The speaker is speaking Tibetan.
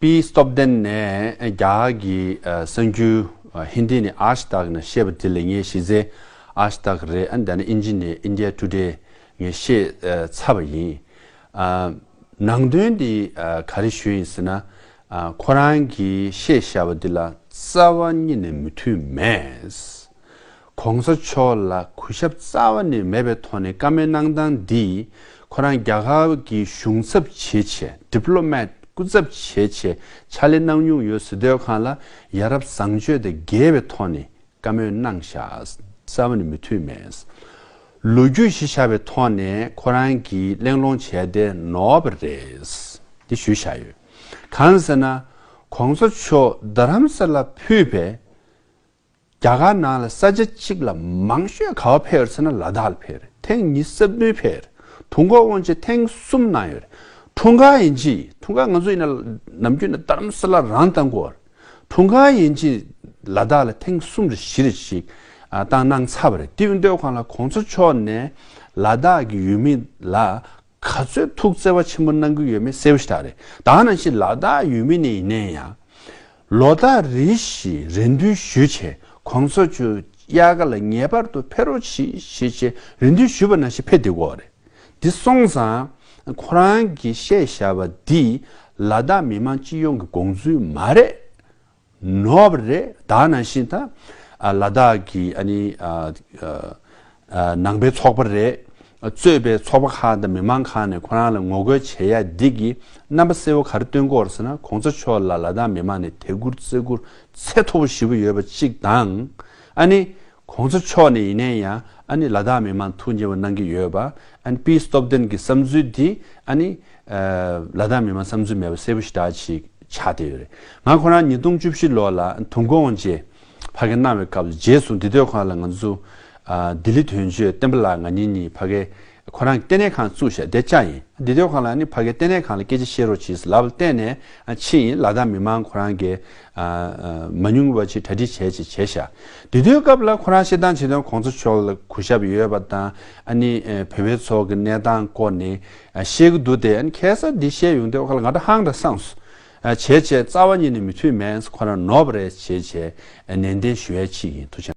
དཔེའི་སྟོབས་ལྡན་ནས་རྒྱ་གི་གསང་རྒྱུད་ཧིན་དྷི་ནས་ཨཱཤ་ཏག་ནས་ཤེས་པ་དེ་ལས་ངས་ཤེས་ཚེ་ཨཱཤ་ཏག་རེད་ཨ་འདི་ནི་ཨིན་ཇི་ནས India Today ངས་ཤེས་ཚར་བ་ཡིན། ནང་དོན་འདི་ག་རེ་ཞུས་ཡིན་ཟེར་ན་ཁོ་རང་གིས་ཤེས་བྱ་བ་འདི་ལ་རྩ་བ་ཉིད་ནས་མི་མཐུན་མེད། གོང་ས་མཆོག་ལ་གུས་ཞབས་རྩ་བ་ནས་མེད་པའི་ཐོག་ནས་བཀའ་མོལ་གནང་སྟངས་འདིས་ཁོ་རང་རྒྱ་གར་གྱི་གཞུང་ཚབ་བྱེད་ཆེད Diplomat སྐུ་ཚབ་བྱེད་ཆེད་ཕྱག་ལས་གནང་མྱོང་ཡོད་སྲིད་སྡོད་ཁང་ལ་ཡ་རབས་བཟང་སྤྱོད་དང་འགལ་བའི་ཐོག་ནས་བཀའ་མོལ་གནང་བཞག་རྩ་བ་ནས་མི་འཐུས་མེད། ལོ་རྒྱུས་ཞེས་བྱ་བའི་ཐོག་ནས་ཁོ་རང་གིས་གླེང་སློང་བྱས་བསྡད་ནོར་བ་རེད། འདི་ཞུས་བཞག་ཡོད། གང་ཟེར་ན་གོང་ས་མཆོག་རྡ་རམ་ས་ལ་ཕུད་པའི་རྒྱ་གར་ནང་ལ་ས་ཆ་གཅིག་ལ་མང་ཤོས་ག་བ་ཕེར་ཟེར་ན་ལ་དྭགས་ལ་ཕེར་ཐེངས་གཉིས་གསར་བསྡུའི་ཕེར་ཐུང་གོ་དབང་ཆེན་ཐེངས་གསུམ་གནང་ཡོད་རེད་ཐུང་ག་ཡིན་གྱི་ཐུང་ག་ང་ཚོ་ཡིན་ན་ནམ་རྒྱུན་ན་དར་མ་ས་ལ་རང་བཏང་གོ་ཐུང་ག་ཡིན་གྱི་ལ་དྭགས་ལ་ཐེངས་གསུམ་རེ་བཞི་རེ་ཞིག་བཏང་གནང་ཚར་བ་རེད་དེའི་སྡོད་ཁང་ལ་གོང་ཚོ་མཆོག་ནས་ལ་དྭགས་ཀྱི་ཡུལ་མི་ལ་ག་ཚོད་ཐུགས་བརྩེ་བ་ཆེན་པོ་གནང་གི་ཡོད་མེད་གསལ་བོ་ཞིག་ད་རེད་ད་ནང་བཞིན་ལ་དྭགས་ཡུལ་མི་ནས་ཡིན་ན་ཡང་ལོ་ཟླ་རེ་བཞིན་རེ་འདུན་ཞུས་ཆེད་ཁོང་ཚོ་ཆུ་དབྱར་ཁ་ལ་ངེས་པར་དུ་ཕེ་རོག་གྱིས་ཞེས་ཆེད་རེ་འདུན་ཞུས་པ་ན་ཞིག་ཕེ་འདི་འོག་རེ་འདི་སོང་ཙང་ཁོ་རང་གིས་བཤད་བཞག་པ་འདི་ལ་དྭགས་མི་དམངས་སྤྱི་ཡོངས་ཀྱི་དགོངས་ཚུལ་མ་རེད་ནོབ་རེད་དྭགས་ནང་བཞིན་དང་ལ་དྭགས་ཀྱི་ནང་པའི་ཚོགས་པ་རེས་གཙོས་པའི་ཚོགས་པ་ཁག་དང་མི་མང་ཁག་ནས་ཁོ་རང་ལ་ངོ་རྒོལ་བྱེད་ཡ་འདི་གི་རྣམ་པ་གསལ་བོ་ག་རེ་སྟོན་སྐོར་ཟེར་ན་གོང་ས་མཆོག་ལ་ལ་དྭགས་མི་མང་ནས་དད་བཀུར་བརྩེ་བཀུར་ཚད་མཐོ་བོ་ཞི་བོ་ཡོད་པ་གཅིག་དང། ཨ་ནི། གོང་ས་མཆོག་ནས་ཡིན་ནའི་ཡང་ཨ་ནི་ལ་དྭགས་མི་མང་ཐུགས་མཉེས་པོ་གནང་གི་ཡོད་པ་ཨ་ནི་པིས་སྟོབས་ལྡན་གི་བསམ་ཚུལ་འདི་ཨ་ནི། ལ་དྭགས་མི་མང་བསམ་ཚུལ་མེད་པ་གསལ་བོ་ཞི་དྲག་ཅིག་ཆགས་བསྡད་ཡོད་རེད་ང་ཁོ་རང་ཉིས་སྟོང་བཅུ་བཞི་ལོ་ལ་དུང་དགོང་རྗེས་ཕ་གི་གནང་བའི་སྐབས་སུ་རྗེས་སུ་འདི་དོད་ཁོ་རང་ལ་ང་ཚོ། ལྡི་ལི་དོན་གཅོད་བསྟན་པ་ལགས་ང་གཉིས་གཉིས་ཕ་གི། ཁོ་རང་གི་ལྟེ་གནས་ཁང་བཙུགས་ཞབས་བདེ་ལྕག་ཡིན་འདི་དོད་ཁོ་རང་ནི་ཕ་གི་ལྟེ་གནས་ཁང་ལ་སྐད་ཆ་བཤད་རོགས་གྱིས་ལབ་བལྟས་ནས་ཕྱིན་ཡིན་ལ་དྭགས་མི་མང་ཁོ་རང་གི། མ་ཉུང་བ་ཅིག་གྲ་སྒྲིག་བྱས་ཅིག་བྱས་ཤག་འདི་དོད་སྐབས་ལ་ཁོ་རང་བཤད་སྟངས་བྱེད་སྟངས་གོང་ཚོ་ཕྱོགས་ལ་གུ་ཞབས་ཡོད་པ་དང་ནི་བོད་པའི་ཚོགས་ཀྱི་གནས་སྟངས་སྐོར་ནས་བཤད་གི་འདུག་དེ་ཁྱད་གསར་འདི་བཤད་ཡོང་དོད་ཁོ་ལ་ང་དྲ་ཧང་དྲ་སངས་སོ། བྱས་བྱས་རྩ་བ་ཉིད་ནས་མི་ཐུབ་མེད་ཁོ་རང་ནོར་བ་རེད་བྱས་བྱས་ནན་ཏན་ཞུ་ཡ་ཕྱིས་ཡིན་ཐུགས་ཆེན།